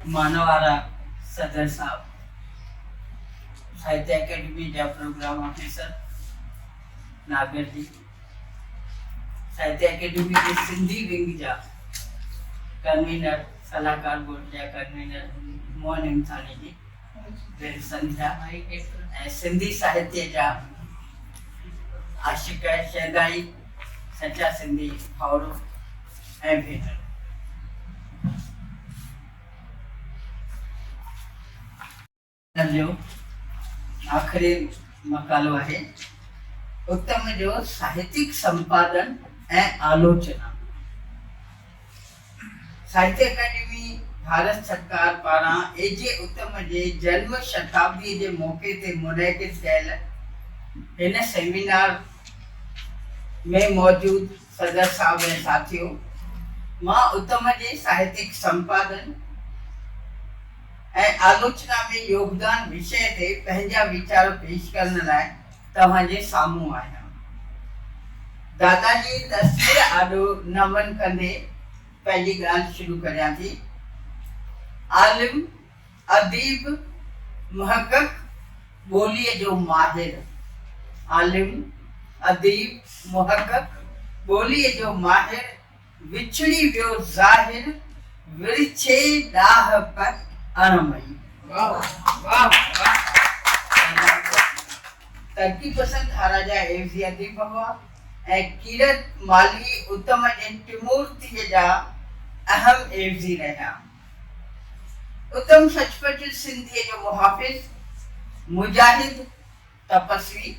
مان وارا صدر صاحب، ساهتيه اڪيڊمي جا پروگرام آفيسر، ناگر جي، ساهتيه اڪيڊمي جي سنڌي ونگ جا ڪنوينر، صلاحڪار بورڊ جا ڪنوينر موهن هيمٿاڻي جي، دل سنڌيا ۽ سنڌي ساهتيه جا عاشق شيدائي، سچا سنڌي ڀائرو ۽ ڀينرو. هن جو آخري مقالو آهي اتم جو ساهتيڪ سمپادن ۽ آلوچنا. ساهتيه اڪاڊمي ڀارت سرڪار پاران اي جي اتم جي جنم شتابدي جي موقعي تي منعقد ڪيل هن سيمينار ۾ موجود صدر صاحب ۽ ساٿيو مان اتم جي ساهتيڪ سمپادن ۽ آلوچنا ۾ يوگدان وشي تي پنهنجا ويچار پيش ڪرڻ لاء توهان جي سامهون آهيان. دادا جي تصوير آڏو نمن ڪندي پنهنجي ڳالهه شروع ڪريان ٿي. عالم، اديب، محقق، ٻوليء جو ماهر. عالم، اديب، محقق، ٻوليء جو ماهر وڇڙي ويو ظاهر ورڇي ڏاهه به اڻ مئي. ترقي پسند هاراجا عيوضي اديب هئا ۽ ڪيرت مالهي اتم ۽ ٽمورتيء جا اهم عيوضي رهيا. اتم سچ پچ سنڌيء جو محافظ، مجاهد، تپسوي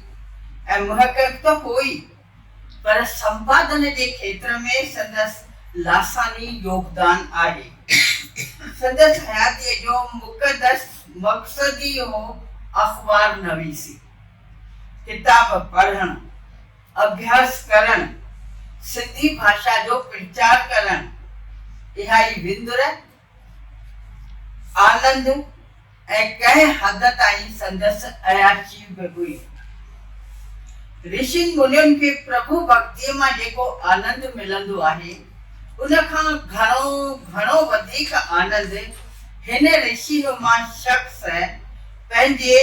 ۽ محقق ته هو ئي پر سمپادن جي کيتر ۾ سندس لاثاني يوگدان آهي. سندس حياتيء جو مقدس مقصد ئي هو اخبار نويسي، ڪتاب پڙهڻ، اڀياس ڪرڻ، سنڌي ڀاشا جو پرچار ڪرڻ. اها ئي وندر آنند ۽ ڪنهن حد تائين سندس عياشي به هئي. رشين منين کي پرڀو ڀڳتيء مان جيڪو آنند ملندو آهي، ان کان گهڻو گهڻو وڌيڪ آنند هن رشي نما شخص پنهنجي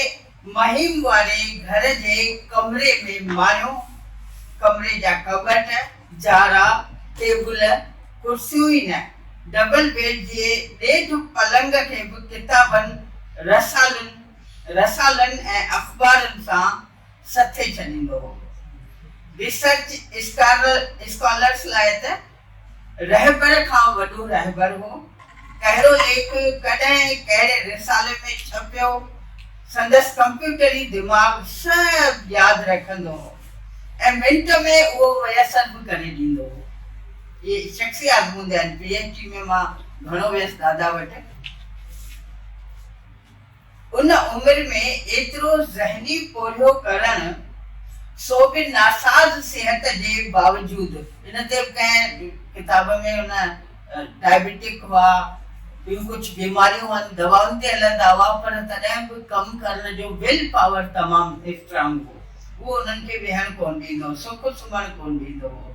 مهم واري گهر جي ڪمري ۾ مايو ڪمري جا ڪٻٽ، جارا، ٽيبل، ڪرسيون ئي نه، ڊبل بيڊ جي ڏيڍ پلنگ کي به ڪتابن، رسالن، رسالن ۽ اخبارن سان سٿي ڇڏيندو هو. ريسرچ اسڪالرس لاء ته رهبر کان وڏو رهبر هو. ڪهڙو ليک ڪڏهن ڪهڙي رسالي ۾ ڇپيو، سندس ڪمپيوٽري دماغ سڀ ياد رکندو هو ۽ منٽ ۾ اهو ميسر به ڪري ڏيندو هو. اهي شخصي آزموندي آهن، پي ايڇ ڊي ۾ مان گهڻو ويس دادا وٽ. ان عمر ۾ ايترو ذهني پورهيو ڪرڻ، سو به ناساز صحت جي باوجود. ان تي به ڪنهن ڪتاب ۾ ان ڊائبيٽڪ هئا، ٻيون ڪجهه بيماريون هئن، دوائن تي هلندا هئا، پر تڏهن به ڪم ڪرڻ جو ويل پاور تمام اسٽرانگ هو. اهو انهن کي ويهڻ ڪونه ڏيندو هو، سڪ سمهڻ ڪونه ڏيندو هو.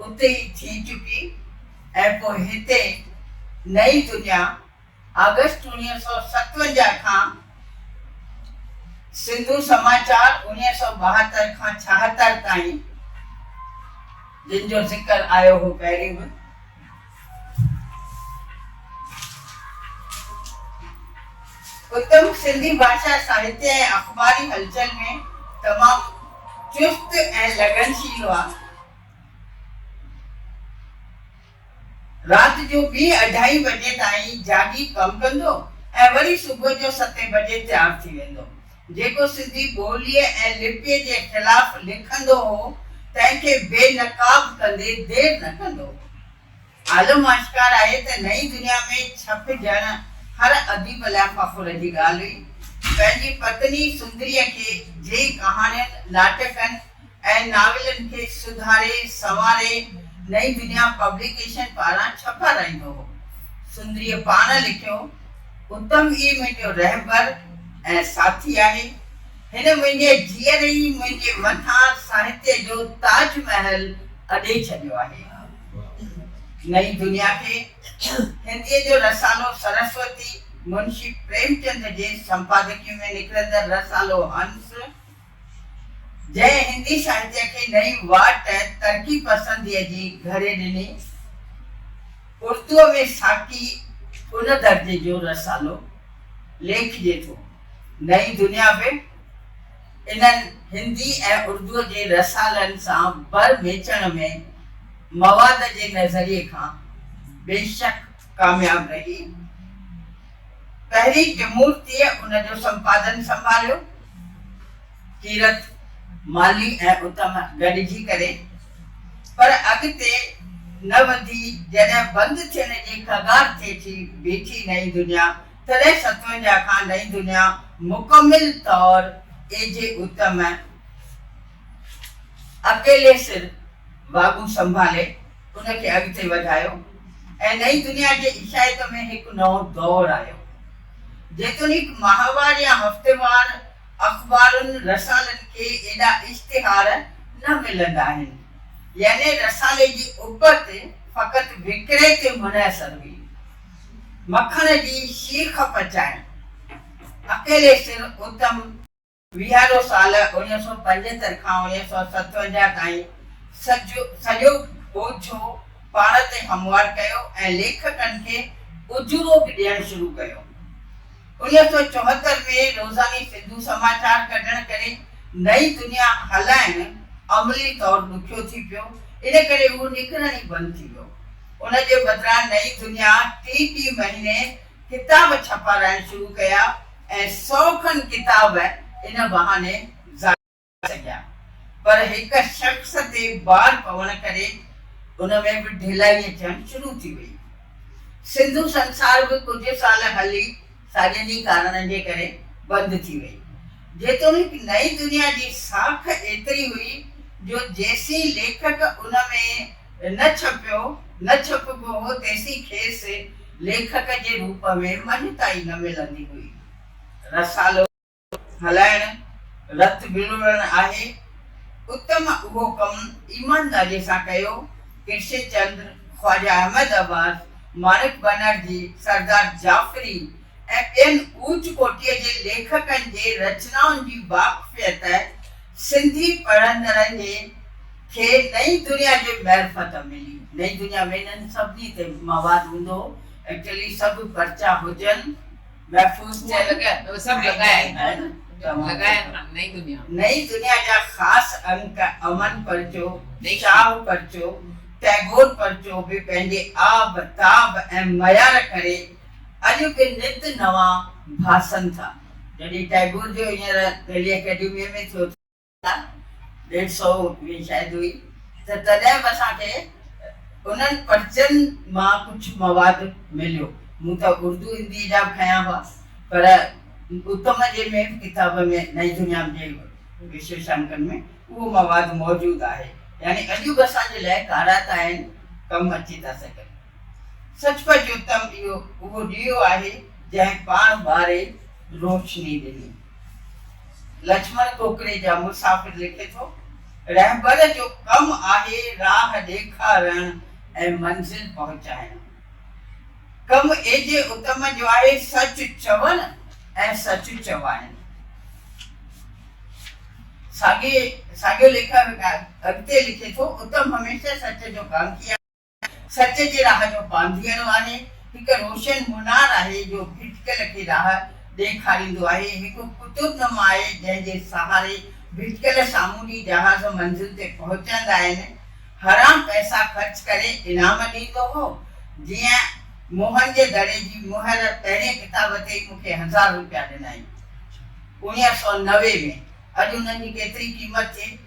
اتي ئي ٿي چڪي ۽ پوء هتي نئين دنيا آگسٽ اوڻيهه سؤ ستونجاهه کان سنڌو سماچار اوڻيهه سؤ ٻاهتر کان ڇاهتر تائين جن جو ذڪر آيو هو پهرين به اتم سنڌي ڀاشا ساهتيه ۽ اخباري هلچل ۾ تمام چست ۽ لگنشيل هئا رات جو ٻي اڍائي بجي تائين جاڳي ڪم ڪندو ۽ وري صبح جو ستين بجي تيار ٿي ويندو. جيڪو سنڌي ٻوليء ۽ لپيء جي خلاف لکندو هو، تنهن کي بي نقاب ڪندي دير نه ڪندو هو. عالم آشڪار آهي ته نئين دنيا ۾ ڇپجڻ هر اديب لاء فخر جي ڳالهه هئي. پنهنجي پتني سندريء کي جي ڪهاڻين، ناٽڪن ۽ ناولن کي سڌاري سنواري نئين دنيا پبليڪيشن پاران ڇپارائيندو هو. سندريء پاڻ لکيو، اتم ئي منهنجو رهبر ۽ ساٿي آهي. هن منهنجي جيئري ئي منهنجي مٿان ساهتيه جو تاج محل اڏي ڇڏيو آهي. نئين دنيا کي هنديء جو رسالو سرسوتي منشي پريمچند جي سمپادڪيء ۾ نڪرندڙ رسالو هنس، جنهن هندي ساهتيه کي نئين واٽ ترقي پسنديء جي گهري ڏني، اردوء ۾ ساقي ان درجي جو رسالو ليکجي ٿو. نئين دنيا به. انهن هندي ۽ اردوء جي رسالن سان بر ميچڻ ۾ مواد جي نظريي کان بيشڪ ڪامياب رهي. پهرين ڪمورتيء ان جو سمپادن سنڀاليو. ڪيرت، مالي ۽ اتم گڏجي ڪري. پر اڳتي نه وڌي جڏهن بند ٿين جي ڪگار تي اچي بيٺي نئين دنيا تڏهن ستونجا کان نئين دنيا مڪمل طور اي جي اتم اڪيلي سر واڳون سنڀالي ان کي اڳتي وڌايو ۽ نئين دنيا جي عيشائيت ۾ هڪ نئون دور آيو. جيتوڻيڪ ماهوار يا هفتيوار اخبارن رسالن کي ايڏا اشتهار نه ملندا آهن، يعني رسالي جي اپت فقط وڪري تي منحصر هئي. مکڻ جي شيخ پچائين اڪيلي سر اتم. ويهارو سال اڻيهه سؤ پنجهتر کان اڻيهه سؤ ستونجاهه تائين سڄو سڄو ٻوجهو پاڻ تي هموار ڪيو ۽ ليکڪن کي اجورو به ڏيڻ شروع ڪيو. اڻيهه سؤ چوهتر ۾ روزاني سنڌو سماچار ڪڍڻ ڪري نئين دنيا هلائڻ عملي طور ڏکيو ٿي پيو، ان ڪري هو نڪرڻ ئي بند ٿي ويو. ان جي بدران نئين دنيا ٽي ٽي مهيني ڪتاب ڇپارائڻ شروع ڪيا ۽ سئو کن ڪتاب ان بهاني ظاهر ٿي سگهيا پر هڪ شخص تي بار پوڻ ڪري ان ۾ به ڍلائي اچڻ شروع ٿي وئي. سنڌو سنسار به ڪجهه سال هلي ساڳين ئي ڪارڻن جي ڪري بند ٿي وئي. جيتوڻيڪ نئين دنيا جي ساک ايتري هئي جو جيسين ليکڪ ان ۾ نه ڇپيو، نه ڇپبو هو تيسين کيس ليکڪ جي روپ ۾ مڃتا ئي نه ملندي هئي. رسالو. هلائڻ رت وروڙڻ آهي. اتم اهو ڪم ايمانداريء سان ڪيو. ڪرشن چندر، خواجه احمد عباس، ماڻڪ بئنرجي، سردار جعفري ۽ ٻين اوچ ڪوٽيء جي ليکڪن جي رچنائن جي واقفيت سنڌي پڙهندڙن جي کي نئين دنيا جي معرفت ملي. نئين دنيا ۾ انهن سڀني تي مواد هوندو هو. ايڪچلي سڀ پرچا هجن محفوظ ٿيل نئين دنيا جا خاص انڪ امن پرچو، شاهه پرچو، ٽئگور پرچو به پنهنجي آب، تاب ۽ معيار ڪري اڄ به نت نوان ڀاسن ٿا. جڏهن ٽئگور جو هينئر دهلي اڪيڊميء ۾ ٿيو ٿو. ڏيڍ سئو ائين شايد هئي ته تڏهن به اسان کي انهن پرچين مان ڪجهه مواد مليو. مون ته اردو هنديء جا به کنيا هئا پر اتم جي مين به ڪتاب ۾ نئين دنيا جي وشيشانڪن ۾ اهو مواد موجود آهي. يعني اڄ به اسان جي لاء ڪارائتا آهن، ڪم اچي ٿا سگهن. سچ پچ اتم اهو اهو ڏيئو آهي جنهن پاڻ ٻاري روشني ڏني. لڇمڻ کوکريجا مسافر لکي ٿو، رهبر جو ڪم آهي راهه ڏيکارڻ ۽ منزل پهچائڻ. ڪم ايجي اتم جو آهي سچ چوڻ ۽ سچ چوائڻ. ساڳيو ليکڪ اڳتي لکي ٿو، اتم هميشه سچ جو ڪانڪي آهي. سچ جي راهه جو پانڌيئڙو آهي، هڪ روشن منار آهي جو ڀٽڪيل کي راهه ڏيکاريندو آهي، هڪ قطب نما آهي جنهن جي سهاري ڀٽڪيل سامونڊي جهاز منزل تي پهچندا آهن. حرام پئسا خرچ ڪري انعام ڏيندو هو، جيئن موهن جي دڙي جي مهر پهرين ڪتاب تي ئي مون کي هزار روپيا ڏنائين اڻيهه سؤ نوي ۾، اڄ انهن جي ڪيتري قيمت ٿئي؟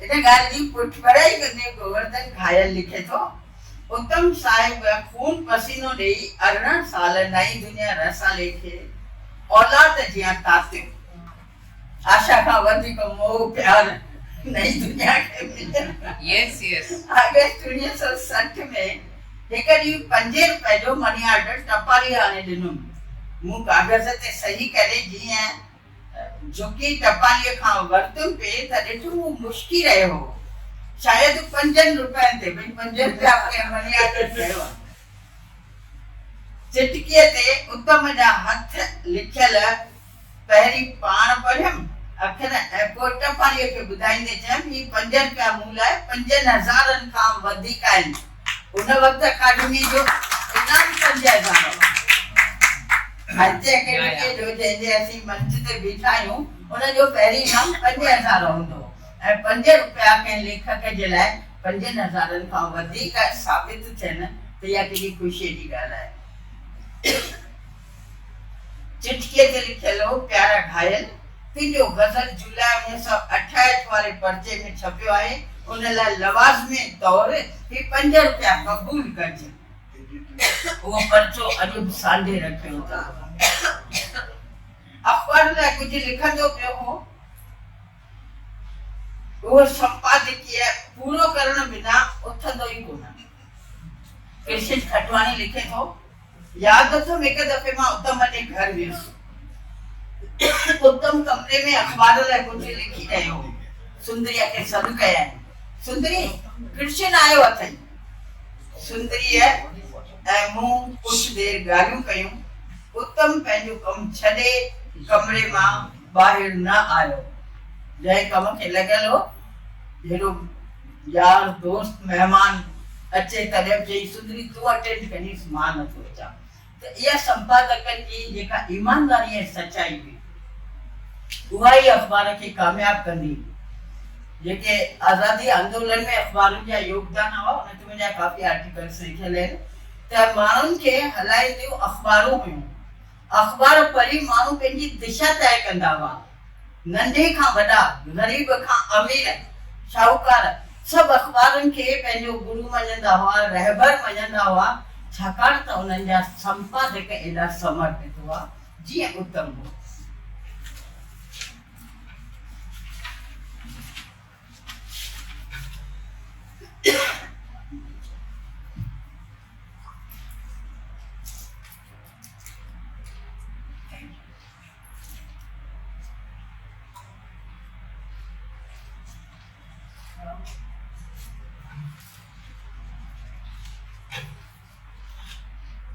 ان ڳالهه جي پٺڀرائي ڪندي گوورڌن گهايل لکي ٿو، اتم صاحب خون پسينو ڏيئي ارڙهن سال نئين دنيا رسالي کي اولاد جيان تاتيو. آشا کان وڌيڪ موهه پيار نئين دنيا کي مليو. آگسٽ اڻويهه سؤ سٺ ۾ هڪ ڏينهن پنجين روپين جو مني آرڊر ٽپالي آڻي ڏنم. مون ڪاغذ تي صحيح ڪري جيئن جهڪي ٽپاليء کان ورتم پي ته ڏٺم هو مشڪي رهيو هو. شايد هو پنجن روپين تي ٻن پنج روپيا ڪنهن مني آرڊر ڪيو آهي. چٽڪيء تي اتم جا هٿ لکيل پهرين پاڻ پڙهيم اکر ۽ پوء ٽپاليء کي ٻڌائيندي چيم، هي پنج روپيا مون لاء پنجن هزارن کان وڌيڪ آهن. ان وقت اڪاڊميء جو انعام سمجهيا ويندا هئا. ساهتيه اڪيڊميء جو جنهن جي اسين منچ تي بيٺا آهيون، ان جو پهرين انعام پنج هزار هوندو هو ۽ پنج رپيا ڪنهن ليکڪ جي لاء پنجن هزارن کان وڌيڪ ثابت ٿين ته اها ڪيڏي خوشيء جي ڳالهه آهي. چٺيء تي لکيل هو، پيارا گهايل، تنهنجو غزل جولاء اڻويهه سؤ اٺاهٺ واري پرچي ۾ ڇپيو آهي، ان لاء لوازمي طور هي پنج رپيا قبول ڪرجي. اهو پرچو اڄ به سانڍي رکيو ٿا. اخبار لاء ڪجهه لکندو پيو هو. اهو سمپادڪيه پورو ڪرڻ بنا اٿندو ئي ڪونه. ڪشش کٽواڻي لکي ٿو، ياد اٿم هڪ دفعي مان اتم جي گهر ويس. اتم ڪمري ۾ اخبار لاء ڪجهه لکي رهيو هو. سندريء کي سڏ ڪيائين، سندري! ڪرشن آيو اٿئي. سندريء ۽ مون ڪجهه دير ڳالهيون ڪيون. اتم پنهنجو ڪم ڇڏي ڪمري مان ٻاهر نه آيو. جنهن ڪم کي لڳل هو هيڏو يار دوست مهمان اچي تڏهن به چئي سندري تون اٽينڊ ڪريس مان نه ٿو اچان ته اها سمپادڪن جي جيڪا ايمانداري ۽ سچائي هئي اها ئي اخبار کي ڪامياب ڪندي هئي جيڪي آزادي آندولن ۾ اخبارن جا يوگدان هئا ان تي منهنجا ڪافي آرٽيڪلس لکيل آهن ته ماڻهن کي هلائينديون اخبارون هيون اخبار پڙهي ماڻهو پنهنجي دشا طئي ڪندا هئا. ننڍي کان وڏا، غريب کان امير، شاهوڪار سڀ اخبارن کي پنهنجو گرو مڃيندا هئا، رهبر مڃيندا هئا، ڇاڪاڻ ته انهن جا سمپادڪ ايڏا سمرپت هئا، جيئن اتم هو.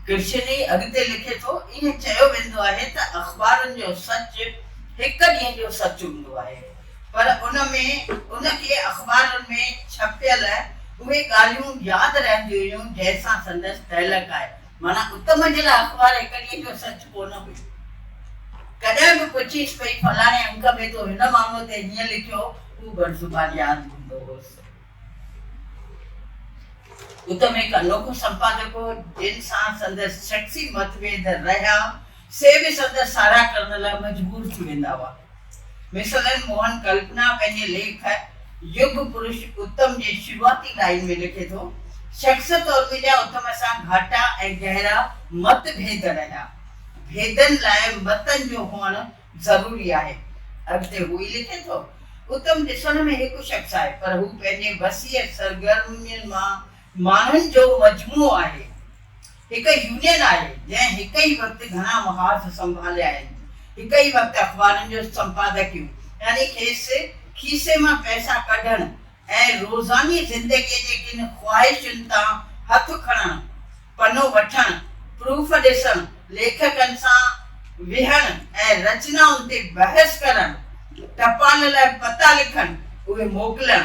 ڪرشني اڳتي لکي ٿو، ائين چيو ويندو آهي ته اخبارن جو سچ هڪ ڏينهن جو سچ هوندو آهي، پر ان ۾ ان کي اخبارن ۾ ڇپيل اهي ڳالهيون ياد رهنديون هيون جنهن سان سندس تعلق آهي. معنيٰ ات منجهيل اخبار هڪ ڏينهن جو سچ ڪو نه هئي. ڪڏهن به پڇيس پئي فلاڻي انڪ ۾ تو هن مامو تي هيئن لکيو هو بر زبان ياد ڪندو هوس. ات ۾ هڪ انوکو سمپادڪ هو جنهن سان سندس شخصي متڀيد رهيا سي به سندس ساراهه ڪرڻ لاء مجبور ٿي ويندا هئا. مثلن موهن ڪلپنا پنهنجي ليک يگ پرش اتم جي شروعاتي لائين ۾ لکي ٿو، شخص طور منهنجا اتم سان گهاٽا ۽ گهرا مت ڀيد رهيا. ڀيدن لاء متن جو هئڻ ضروري آهي. اڳتي هو ئي لکي ٿو، اتم ڏسڻ ۾ هڪ شخص آهي، پر هو پنهنجي وسيع سرگرمين مان ماڻهن جو مجموعو آهي، هڪ يونين آهي، جنهن هڪ ئي وقت گهڻا محاذ سنڀاليا آهن، هڪ ئي وقت اخبارن جو سمپادڪيون يعني کيس کيسي مان پئسا ڪڍڻ ۽ روزاني زندگيء جي ڪن خواهشن تان هٿ کڻڻ، پنو وٺڻ، پروف ڏسڻ، ليکڪن سان ويهڻ ۽ رچنائن تي بحث ڪرڻ، ٽپال لاء پتا لکڻ، اهي موڪلڻ،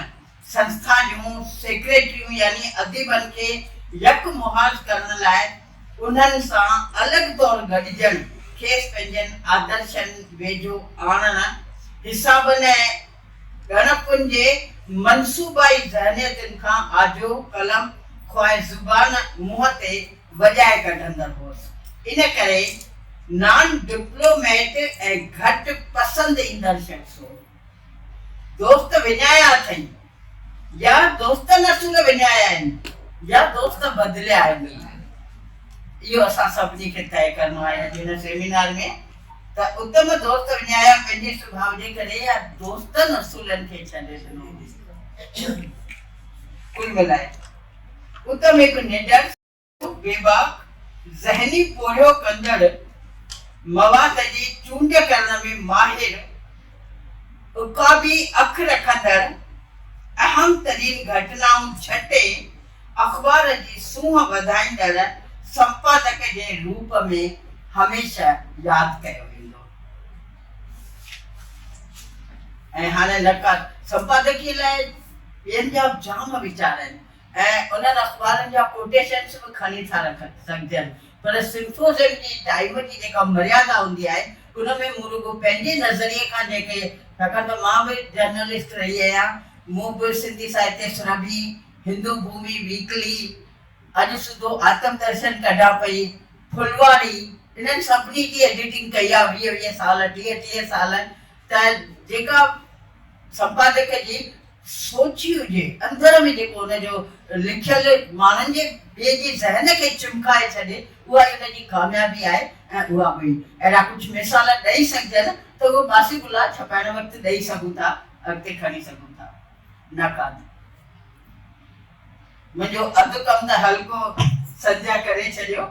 سنسٿا جون سيڪريٽريون يعني اديبن کي يڪ مهاز ڪرڻ لاء انهن سان الڳ طور گڏجڻ، کيس پنهنجن آدرشن ويجهو آڻڻ، حسابن ۽ ڳڻپن جي منصوبائي ذهنيتن کان آجو قلم خواهه زبان منهن تي وڄائي ڪڍندڙ هئس. ان ڪري نان ڊپلوميٽ ۽ گهٽ پسند ايندڙ شخص هو. دوست وڃايا اٿئي يا دوستن اصول وڃايا آهن يا دوست بدليا آهن اهو اسان سڀني کي طئي ڪرڻو آهي اڄ هن سيمينار ۾ ته اتم دوست وڃايا پنهنجي سڀاء جي ڪري يا دوستن اصولن کي ڇڏي ڏنو ڪل ملائي اتم هڪ نڊر بيباڪ ذهني پورهيو ڪندڙ مواد جي چونڊ ڪرڻ ۾ ماهر عقابي اک رکندڙ اهم ترين گهٽنائون جهٽي اخبار جي سونهن وڌائيندڙ سمپادڪ جي روپ ۾ هميشه ياد ڪيو ويندو ۽ هاڻي نقاد سمپادڪي لاء ٻين جا به جام ويچار آهن ۽ انهن اخبارن جا ڪوٽيشنس به کڻي ٿا رکن سگهجن پر سمپوزيم جي ٽائيم جي جيڪا مريادا هوندي آهي ان ۾ مون رڳو پنهنجي نظريي کان جيڪي ڇاڪاڻ ته مان به جرنلسٽ رهي آهيان مون به سنڌي ساهتيه سرڀي، هندو ڀومي ويڪلي، اڄ سڌو آتم درشن ڪڍان پئي، ڦلواڙي انهن سڀني جي ايڊيٽنگ ڪئي آهي ويهه ويهه سال ٽيهه ٽيهه سال ته جيڪا سمپادڪ جي سوچي هجي، اندر ۾ جيڪو ان جو لکيل ماڻهن جي ٻئي جي ذهن کي چمڪائي ڇڏي، اها ئي ان جي ڪاميابي آهي ۽ اها به اهڙا ڪجهه مثال ڏئي سگهجن ته اهو باسي بلا ڇپائڻ وقت ڏئي سگهون ٿا، اڳتي کڻي سگهون ٿا. نقاد. منهنجو اڌ ڪم ته هلڪو سنجه ڪري ڇڏيو.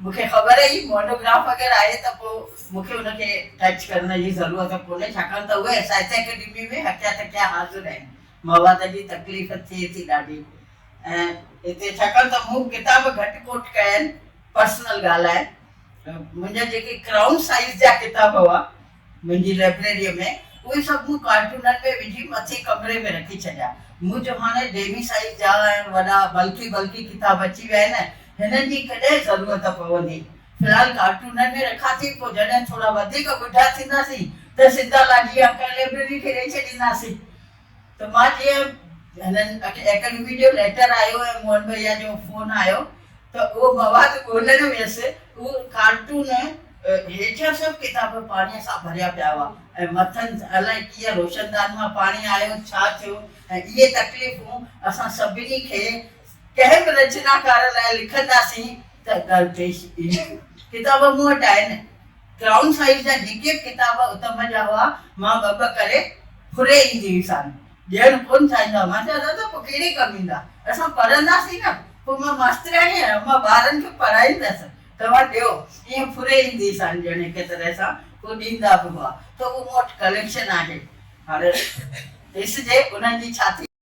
مون کي خبر هئي مونوگراف اگر آهي ته پوء مون کي ان کي ٽچ ڪرڻ جي ضرورت ڪونهي ڇاڪاڻ ته اهي ساهتيه اڪيڊمي ۾ هکيا تکيا حاضر آهن. مواد جي تڪليف ٿئي ٿي ڏاڍي ۽ هتي ڇاڪاڻ ته مون ڪتاب گهٽ ڪوٽ ڪيا آهن پرسنل ڳالهه آهي. منهنجا جيڪي ڪرائون سائيز جا ڪتاب هئا منهنجي لئبريريء ۾ اهي سڀ مون ڪارٽونن ۾ وجهي مٿين ڪمري ۾ رکي ڇڏيا. مون جو هاڻي ڊيمي سائيز جا ۽ وڏا بلڪي بلڪي ڪتاب اچي ويا آهن، هنن جي ڪڏهن ضرورت پوندي؟ في الحال ڪارٽونن ۾ رکان ٿي، پوء جڏهن ٿورا وڌيڪ ٻڍا ٿينداسين ته سنڌالاجي يا ڪنهن لئبريري کي ڏئي ڇڏينداسين. ته مان جيئن هنن اڪيڊمي جو ليٽر آيو ۽ موهن ڀئيا جو فون آيو ته اهو مواد ڳولڻ ويس. اهو ڪارٽون هيٺيان سڀ ڪتاب پاڻيء سان ڀريا پيا هئا ۽ مٿن الائي ڪيئن روشندان مان پاڻي آيو، ڇا ٿيو ۽ اهي تڪليفون اسان سڀني کي ڪنهن به رچناڪار لاء لکنداسين ته درپيش اينديون. ڪتاب مون وٽ آهن. ڪرائون سائيز جا جيڪي به ڪتاب اتم جا هئا، مان ٻه ٻه ڪري ڦري ايندي هئس آن ڏيڻ ڪونه چاهيندو هئس. مان چيو دادا پوء ڪهڙي ڪم ايندا؟ اسان پڙهنداسين نه، پوء مان ماسترياڻي آهيان، مان ٻارن کي پڙهائيندس، توهان ڏيو. ائين ڦري ايندي هئس آن ڄڻ هڪ طرح سان هو ڏيندا به هئا ته اهو مون وٽ ڪليڪشن آهي. هاڻ ڏس جي انهن جي ڇا ٿيندو.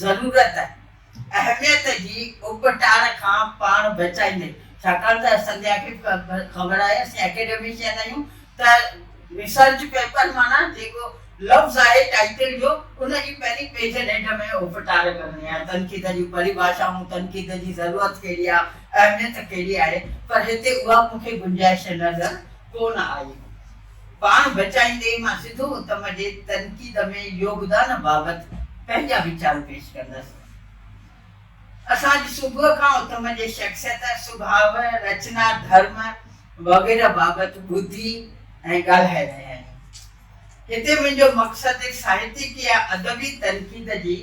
ضرورت، اهميت جي اٻهٽاڻ کان پاڻ بچائيندي، ڇاڪاڻ ته سنڌيا کي خبر آهي اسين اڪيڊميشن آهيون ته ريسرچ پيپر معنيٰ جيڪو لفظ آهي ٽائيٽل جو ان جي پهرين پيج ڏيڍ ۾ اٻهٽاڻ ڪرڻي آهي تنقيد جون پريڀاشائون تنقيد جي ضرورت ڪهڙي آهي اهميت ڪهڙي آهي پر هتي اها مون کي گنجائش نظر ڪونه آئي. پاڻ بچائيندي مان سڌو اتم جي تنقيد ۾ يوگدان بابت پنهنجا ويچار پيش ڪندس. اسان اڄ صبح کان اتم جي شخصيت، سڀاء، رچنا، ڌرم وغيره بابت ٻڌي ۽ ڳالهائي رهيا آهيون. هتي منهنجو مقصد ساهتڪي يا ادبي تنقيد جي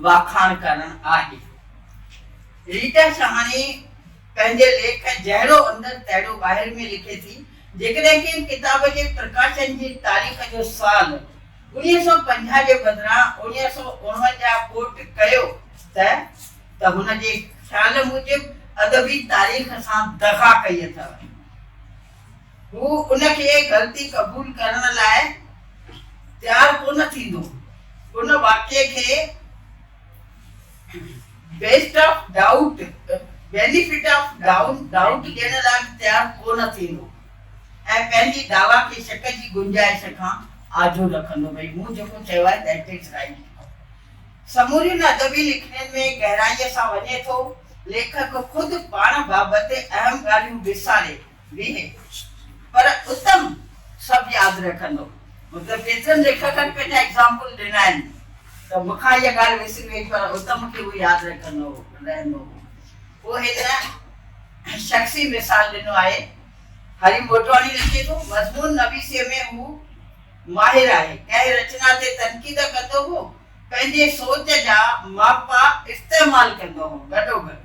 واکاڻ ڪرڻ آهي. ريٽا شاهاڻي. پنهنجي ليک جهڙو اندر تهڙو ٻاهر ۾ لکي ٿي، جيڪڏهن ڪنهن ڪتاب جي پرڪاشن جي تاريخ جو سال اڻيهه سؤ پنجاهه جي بدران اڻيهه سؤ اڻونجاهه ڪوٽ ڪيو ته ته هن جي خيال موجب ادبي تاريخ سان دغا ڪئي اٿئو. هو ان کي غلطي قبول ڪرڻ لاء تيار ڪونه ٿيندو. ان واقعي کي. Best of doubt benefit of doubt ڏيڻ لاء به تيار ڪو نه ٿيندو ۽ پنهنجي دعويٰ کي شڪ جي گنجائش کان آجو رکندو ڀئي مون جيڪو چيو آهي ذات از رائيٽ. سمورين ادبي لکڻين ۾ گهرائيء سان وڃي ٿو، ليکڪ خود پاڻ بابت اهم ڳالهيون وساري نيهي، پر اتم سڀ ياد رکندو. مطلب ڪيترن ليکڪن پنهنجا ايگزامپل ڏنا آهن ته مون کان اها ڳالهه وسري وئي پر اتم کي اهو ياد رکندو رهندو هو. پوء هن شخصي مثال ڏنو آهي. هري موٽواڻي لکي ٿو، مضمون نويسيء ۾ هو ماهر آهي. ڪنهن رچنا تي تنقيد ڪندو هو، پنهنجي سوچ جا ماپا استعمال ڪندو هو. گڏوگڏ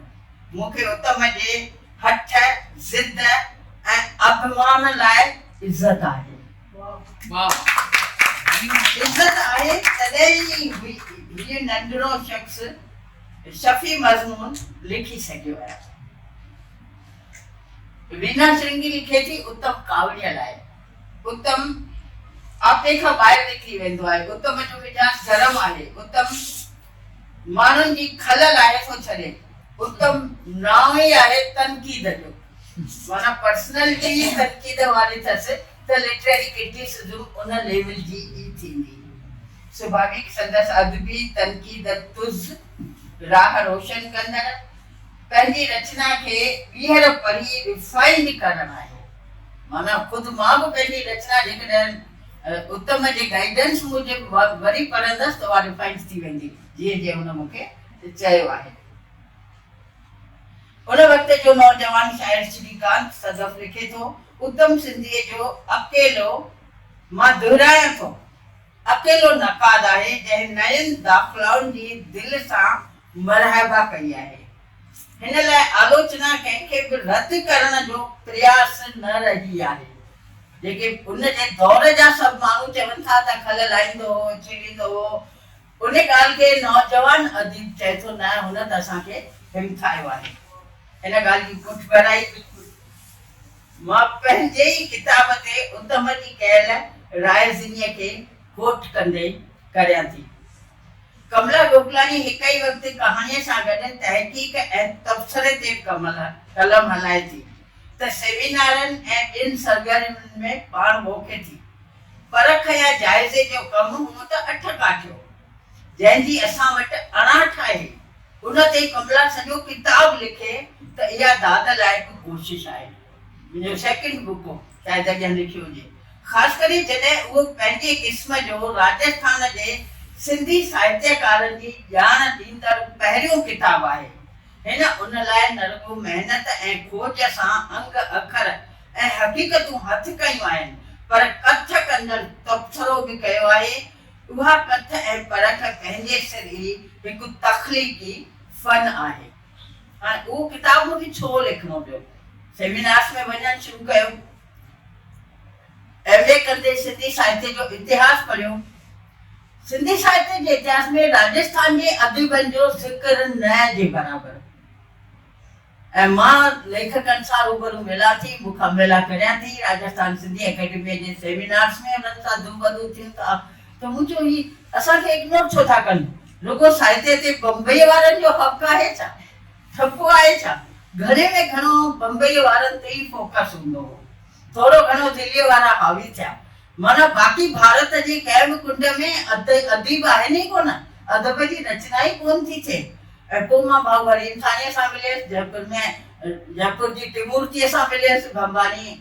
مون کي اتم جي هٺ، ضد ۽ اڀمان لاء عزت آهي. عزت آهي تڏهن ئي هي ننڍڙو شخص شفيع مضمون لکي سگهيو آهي. وينا شرنگي لکي ٿي اتم ڪاوڙيء لاء اتم آپي کان ٻاهر نڪري ويندو آهي، اتم جو مجاز گرم آهي، اتم ماڻهن جي کل لاهي ٿو ڇڏي. اتم نانء ئي آهي تنقيد جو. معنيٰ پرسنالٽي ئي تنقيد واري ٿس ته لٽريري ڪرٽيسزم ان ليول جي ئي ٿيندي. سڀاويڪ سندس ادبي تنقيد تز، راهه روشن ڪندڙ، پنهنجي رچنا کي ٻيهر پڙهي ريفائنڊ ڪرڻ آهي. معنيٰ خود مان به پنهنجي رچنا جيڪڏهن اتم جي گائيڊنس موجب وري پڙهندس ته اها ريفائنڊ ٿي ويندي جيئن جيئن هن مون کي چيو آهي. ان وقت جو نوجوان شاعر شري ڪانت سدف لکي ٿو، اتم سنڌيء جو اڪيلو مان دهرايان ٿو اڪيلو نقاد آهي جنهن نئين داخلائن جي دل سان مرحبا ڪئي آهي. هن لاء آلوچنا ڪنهن کي به رد ڪرڻ جو پرياس نه رهي آهي. جيڪي ان جي دور جا سڀ ماڻهو چون ٿا ته کل لائيندو هو، چيڙيندو هو، ان ڳالهه کي نوجوان اديب چئي ٿو نه هن ته اسان کي همٿايو آهي. ان ڳالهه جي پٺڀرائي مان پنهنجي ئي ڪتاب تي اتم جي ڪيل رائزنيء کي ڪوٽ ڪندي ڪريان ٿي. ڪملا گوڪلاڻي هڪ ئي وقت ڪهاڻيء سان گڏ تحقيق ۽ تبصري تي قلم هلائي ٿي ته سيمينارن ۽ ٻين سرگرمين ۾ پاڻ موکي ٿي. پرک يا جائزي جو ڪم هونء ته اٺ ڪاٺيو، جنهن جي اسان وٽ اڻاٺ آهي، ان تي ڪملا سڄو ڪتاب لکي ته اها داد لائق ڪوشش آهي. منهنجو سيڪنڊ بڪ هو. چاهي جڏهن لکيو هجي، خاص ڪري جڏهن اهو پنهنجي قسم جو راجسٿان جي سنڌي ساهتيڪارن جي ڄاڻ ڏيندڙ پهريون ڪتاب آهي. هن ان لاء نه رڳو محنت ۽ کوج سان انگ اکر ۽ حقيقتون هٿ ڪيون آهن، پر ڪٿ ڪندڙ تبصرو به ڪيو آهي. اها ڪٿ ۽ پرک پنهنجي سر ئي هڪ تخليقي فن آهي. هاڻي اهو ڪتاب مون کي ڇو لکڻو پيو؟ سيمينارس ۾ وڃڻ شروع ڪيو. ايم اي ڪندي سنڌي ساهتيه جو اتهاس پڙهيو. سنڌي ساهتيه جي اتهاس ۾ راجسٿان جي اديبن جو ذڪر نه جي برابر ۽ مان ليکڪن سان روبرو ملان ٿي، مخاملا ڪريان ٿي، راجسٿان سنڌي اڪيڊميء جي سيمينارس ۾ انهن سان دوبرو ٿيون ٿا ته منهنجو هي اسان کي اگنور ڇو ٿا ڪن؟ رڳو سائتي تي بمبئيء وارن جو حق آهي ڇا؟ ٺپو آهي ڇا؟ گهڻي ۾ گهڻو بمبئيء وارن تي ئي فوڪس هوندو هو. ٿورو گهڻو دليء وارا حاوي ٿيا. معنيٰ باقي ڀارت جي ڪنهن به ڪنڊ ۾ اديب آهن ئي ڪونه، ادب جي رچنا ئي ڪونه ٿي ٿئي. ۽ پوء مان ڀائو وريم ٿانيء سان مليس، جئپور ۾ جئپور جي ٽيمورتيء سان مليس، ڀنڀاني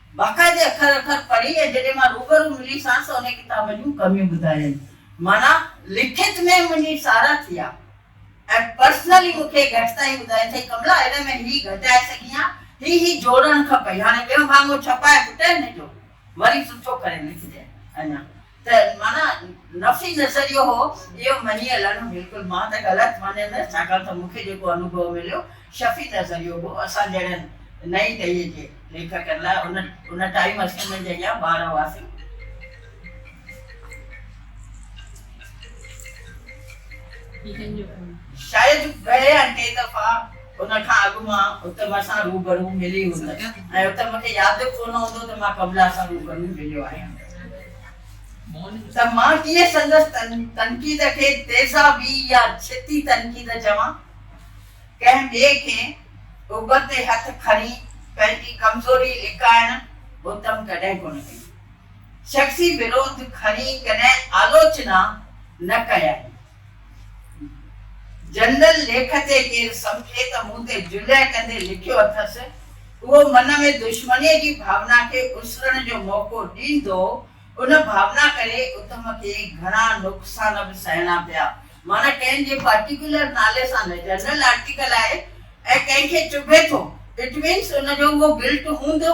باقاعدي اکر اکر پڙهي ۽ جڏهن مان روبرو ملي سانس ته انهي ڪتاب جون ڪميون ٻڌايائين. معنيٰ لکت ۾ منهنجي ساراهه ٿي آ ۽ پرسنلي مون کي گهٽ تائين ٻڌايائين ته ڪملا هن ۾ هي گهٽائي سگهين ها، هي هي جوڙڻ کپئي، هاڻي ٻيو ڀاڱو ڇپائي پٽ هن جو وري سٺو ڪري لکجانء. اڃا. ته معنيٰ نفي نظريو هو، اهو مڃي هلڻ بلڪل مان ته غلط مڃيندس، ڇاڪاڻ ته مون کي جيڪو انوڀو مليو، شفي نظريو هو، اسان جهڙن نئين ڏهيء جي ليکڪن لاء، ان ان ٽائيم اسين انهن جي اڳيان ٻار هئاسين. شايد گهڻي يا ڪي دفعا. ان کان اڳ مان اتم سان روبرو ملي هوندس ۽ اتم کي ياد به ڪونه هوندو ته مان ڪملا سان روبرو مليو آهيان ته مان ڪيئن سندس تنقيد کي تيزابي يا ڇتي تنقيد چوان. ڪنهن ٻئي کي ابر تي هٿ کڻي پنهنجي ڪمزوري لڪائڻ اتم ڪڏهن ڪونه ڪئي. شخصي وروڌ کڻي ڪڏهن آلوچنا نه ڪيائين. جنرل ليکت تي ڪير سمجهي ته مون تي جرح ڪندي لکيو اٿس، اهو من ۾ دشمنيء جي ڀاونا کي اسرڻ جو موقعو ڏيندو، ان ڀاونا ڪري اتم کي گهڻا نقصان به سهڻا پيا. معنيٰ ڪنهن جي پارٽيڪيولر نالي سان نه، جنرل آرٽيڪل آهي ۽ ڪنهن کي چڀي ٿو، اٽ مينس ان جو اهو گلٽ هوندو.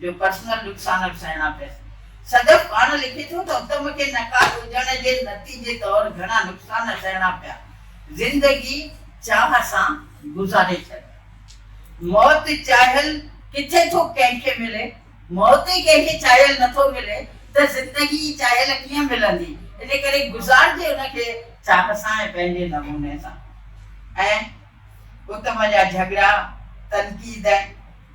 جو پرسنل نقصان به سهڻا پيس. صدف پاڻ لکي ٿو ته اتم کي نقاد هجڻ جي نتيجي طور گهڻا نقصان سهڻا پيا. زندگي چاهه سان گذاري ڇڏي. موت چاهيل ڪٿي ٿو ڪنهن کي ملي؟ موت ئي ڪنهن کي چاهيل نه ٿو ملي ته زندگي ئي چاهيل ڪيئن ملندي؟ ان ڪري گذارجي ان کي چاهه سان ۽ پنهنجي نموني سان. ۽ اتم جا جهڳڙا، تنقيد ۽.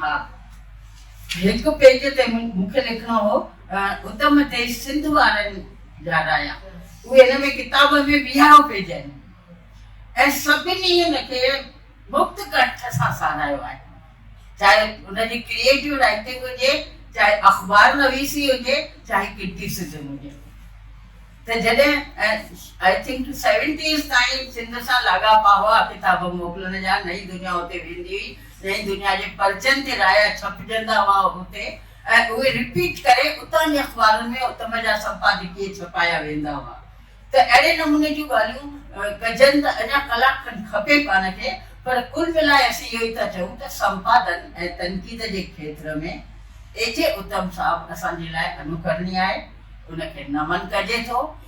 ها هڪ پيج تي مون کي لکڻو هو اتم ديس سنڌ وارن جا رايا اهي هن ۾ ڪتاب ۾ ويهارو پيج آهن ۽ سڀني هن کي مفت ڪنٺ سان ساراهيو آهي چاهي ان جي ڪريئيٽو رائٽنگ هجي چاهي اخبار نويسي هجي چاهي ڪرٽيسزم هجي ته جڏهن آئي ٿنڪ سيونٽيز تائين سنڌ سان لاڳاپا هئا ڪتاب موڪلڻ جا نئي دنيا اتي ويندي هئي جنهن دنيا جي پرچن تي رايا ڇپجندا هئا هتي ۽ اهي رپيٽ ڪري اتان جي اخبارن ۾ اتم جا سمپادڪيه ڇپايا ويندا هئا ته اهڙي نموني جون ڳالهيون ڪجن ته اڃا ڪلاڪ کن کپي پاڻ کي پر ڪل ملائي اسين اهو ئي ٿا چئون ته سمپادن ۽ تنقيد جي کيتر ۾ اي جي اتم صاحب اسان جي لاء انوڪرڻي آهي ان کي نمن ڪجي ٿو.